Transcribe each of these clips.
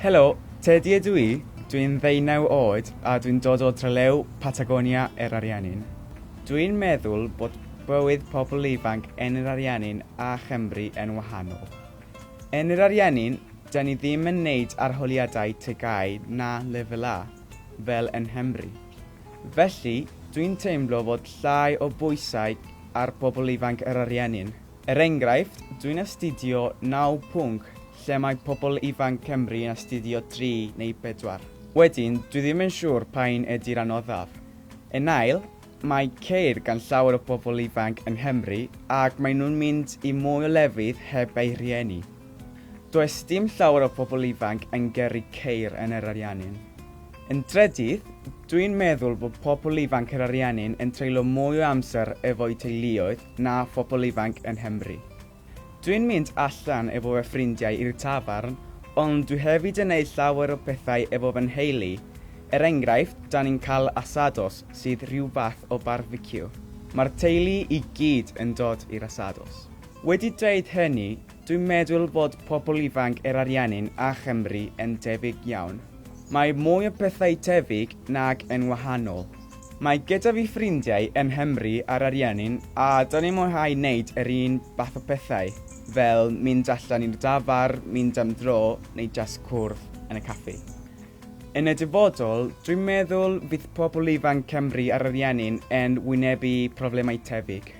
Helo, Teddy ydw i. Dwi'n ddeunaw oed a dwi'n dod o drelew Patagonia er Ariannin. Dwi'n meddwl bod bywyd pobl ifanc yn yr Ariannin a Chymru yn wahanol. Yn yr Ariannin, da ni ddim yn neud arholiadau tegau na lefel A, fel yn Nghymru. Felly, dwi'n teimlo fod llai o bwysau ar bobl ifanc yr ariennyn. Er enghraifft, dwi'n astudio naw pwnc lle mae pobl ifanc Cymru yn astudio dri neu bedwar. Wedyn, dwi ddim yn siŵr pa un ydi'r anoddaf. Yn ail, mae ceir gan llawer o bobl ifanc yng Nghymru ac maen nhw'n mynd i mwy o lefydd heb eu rhieni. Does dim llawer o pobl ifanc yn gyrru ceir yn yr ariennyn. Yn drydydd, dwi'n meddwl bod pobl ifanc yr ariennin yn treulio mwy o amser efo'u teuluoedd na phobl ifanc yn Nghymru. Dwi'n mynd allan efo fy ffrindiau i'r tafarn, ond dwi hefyd yn neud llawer o pethau efo fy nheulu, er enghraifft 'da ni'n cael asados sydd rhyw fath o barbeciw. Mae'r teulu i gyd yn dod i'r asados. Wedi dweud hynny, Dwi'n meddwl bod pobl ifanc yr Ariannin a Chymru yn debyg iawn. Mae mwy o pethau tebyg nag yn wahanol. Mae gyda fi ffrindiau yn Nghymru a'r Ariannin a 'dan ni'n mwynhau neud yr un fath o pethau, fel mynd allan i'r dafarn, mynd am dro neu jyst cwrdd yn y caffi. Yn y dyfodol, dwi'n meddwl fydd pobl ifanc Cymru a'r Ariannin yn wynebu problemau tebyg.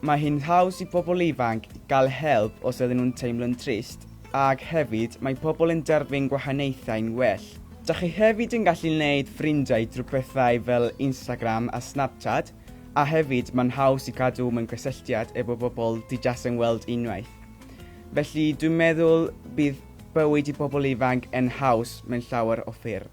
Mae hi'n haws i bobl ifanc gael help os ydyn nhw'n teimlo'n drist, ac hefyd mae pobl yn derbyn gwahaniaethau'n well. Dach chi hefyd yn gallu neud ffrindiau drwy pethau fel Instagram a Snapchat, a hefyd mae'n haws i gadw mewn cysylltiad efo bobl ti jas yn weld unwaith. Felly dwi'n meddwl bydd bywyd i bobl ifanc yn haws mewn llawer o ffyrdd.